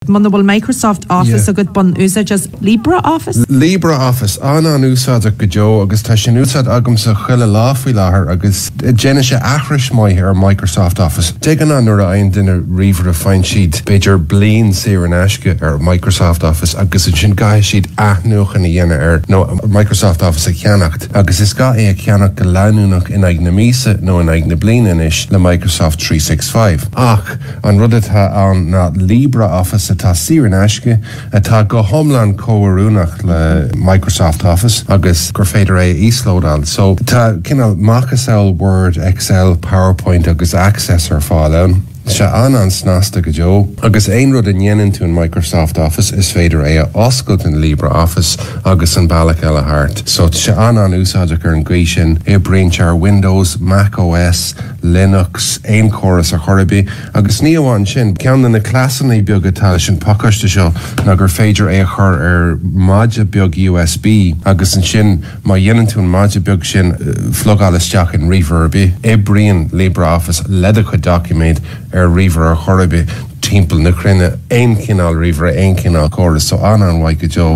Muna bhfuil Microsoft Office agat, bain úsáid as LibreOffice. LibreOffice, an-an-úsáideach go deo agus tá sé in úsáid agamsa chuile lá faoi láthair agus déanann sé aithris maith ar Microsoft Office. De ghnáth nuair a fhaigheann duine ríomhaire faigheann siad b'fhéidir bliain saor in aisce ar Microsoft Office agus ansin caithfidh siad athnuachan a dhéanamh air nó Microsoft Office a cheannacht agus is gá é a cheannacht go leanúnach in aghaidh na míosa nó in aghaidh na bliana anois le Microsoft Three Six Five. Ach. An rud atá ann ná LibreOffice atá saor in aisce, atá go hiomlán comhoiriúnach le Microsoft Office agus gur féidir é a íoslódáil. So, tá cineál macasamhail Word, Excel, PowerPoint agus Access ar fáil ann. Tá sé an-an-snasta go deo. Agus aon rud a dhéanann tú in Microsoft Office, is féidir é a oscailt in LibreOffice agus an bealach eile thart. So, tá sé an-an-úsáideach ar an gcaoi sin. Oibríonn sé ar Windows, Mac OS. Linux, aon córas ar chor ar bith. Agus ní amháin sin, ceann de na cleasannaí beaga atá leis an pacáiste seo ná gur féidir é a chur ar maide beag USB agus ansin má dhéanann tú an maide beag sin a phlugáil isteach in ríomhaire ar bith, oibríonn LibreOffice le do chuid doiciméad ar ríomhaire ar chor ar bith timpeall na cruinne. Aon chineál ríomhaire, aon chineál córas, so an-an-mhaith go deo.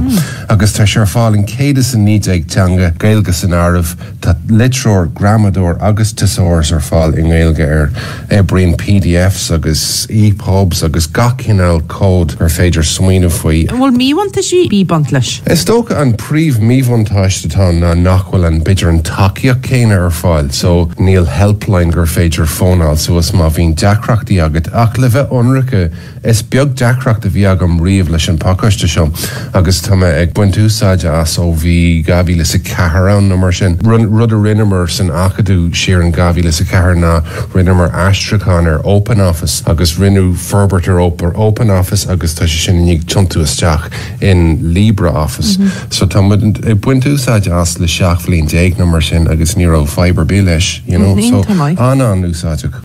Agus tá sé ar fáil in 119 teanga, Gaeilge san áireamh. Tá litreoir, gramadóir agus tesaurus ar fáil i nGaeilge air. Oibríonn PDFs agus EPUBs agus gach cineál comhad gur féidir smaoineamh faoi. An bhfuil míbhuntáistí ag baint leis? Is dócha an príomh-mhíbhuntáiste atá ann ná nach bhfuil an b'fhéidir an tacaíocht céanna ar fáil so níl helpline gur féidir fónáil suas má bhíonn deacrachtaí agat ach le bheith ionraic, Is beag deacracht a bhí agam riamh leis an pacáiste seo agus tá mé ag baint úsáide as ó bhí dhá mhíle is a ceathair ann nó mar sin. Rud a rinneamar san Acadamh siar in dhá mhíle is a ceathair ná rinneamar aistriúchán ar Open Office agus rinneadh forbairt ar ar Open Office agus tá sé sin i ndiaidh tiontú isteach in Libre Office so tá muid ag baint úsáide as le seacht bhliain déag nó mar sin agus ní raibh fadhb ar bith leis you know so an-an úsáideach.